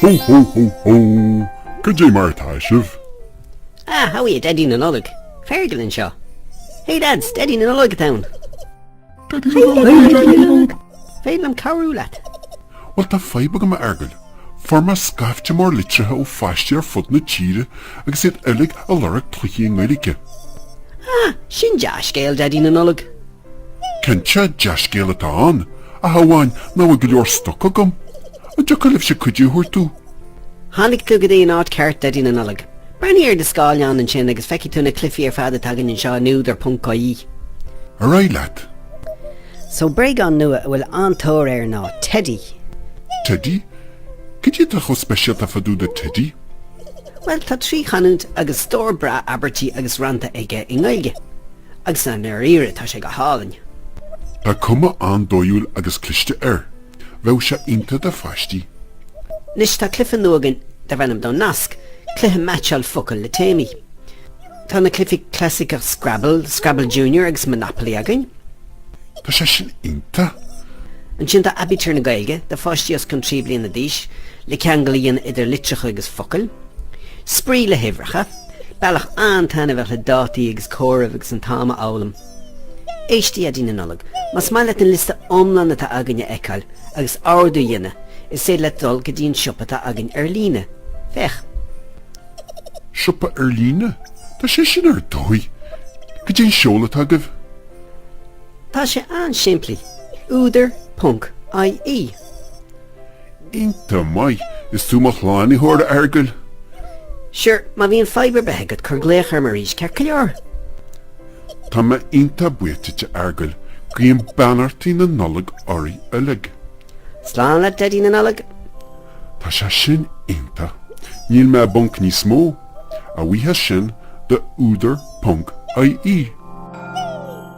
Hó hó hó hó! Goidé mar atá sibh? Ah, how are you, Daidí na Nollag? Fergal anseo. Hey lads, Daidí na Nollag atá ann. An féidir liom cabhrú leat. Bhuel tá fadhb agam a Fhergail. Fuair mé scaifte mór litrithe ó pháistí ar fud na tíre agus iad uilig ag lorg cluichí i nGaeilge. Ah, sin dea-scéal, Daidí na Nollag. Cinnte, dea-scéal atá ann, ach amháin nach bhfuil go leor stoc agam. An dtiocfadh libhse cuidiú a thabhairt domh? Tháinig tú go dtí an áit cheart, Daidí na Nollag. Breathnaigh ar do scáileán ansin agus feicfidh tú na cluichí ar fad atá againn anseo in údar ponc ie. Ar aghaidh leat. So, bréagán nua a bhfuil an-tóir air ná teidí. Teidí? Caidé atá chomh speisialta fá dtaobh de teidí? Bhuel, tá trí chanúint agus stór breá abairtí agus rannta aige i nGaeilge. Agus i ndáiríre tá sé go hálainn. Tá cuma an-dathúil agus cliste air. Bheadh sé iontach do pháistí. Anois tá cluiche nua againn darb ainm Nasc, cluiche meaitseáil focal le téamaí. Tá na cluichí clasaiceacha Scrabble, Scrabble Junior agus Monopoly againn. Tá sé sin iontach! Ansin tá aibítir na Gaeilge, do pháistí os cionn trí bhliana d'aois, le ceangal a dhéanamh idir litreacha agus focail. Spraoi le huimhreacha. Bealach an-taitneamhach le dathaí agus comhaireamh agus an t-am a fhoghlaim. Éist a Dhaidí na Nollag. Más maith leat an liosta iomlán atá againn a fheiceáil agus ordú a dhéanamh, is féidir leat dul go dtí an siopa atá againn ar líne. Féach. Siopa ar líne? Tá sé sin ar dóigh! Goidé an seoladh atá agaibh? Tá sé an-simplí. Údar, ponc, IE. Iontach maith! Is tú mo shlánaitheoir, a Fheargail. Sure, má bhíonn fadhb ar bith agat, cuir glaoch orm arís, ceart go leor? Tá mé iontach buíoch duit, a Fheargail. Guím beannachtaí na Nollag oraibh uilig. Slán leat Daidí na Nollag! Tá sé sin iontach. Níl mé i bponc níos mó. A bhuíochas sin do údar ponc ie.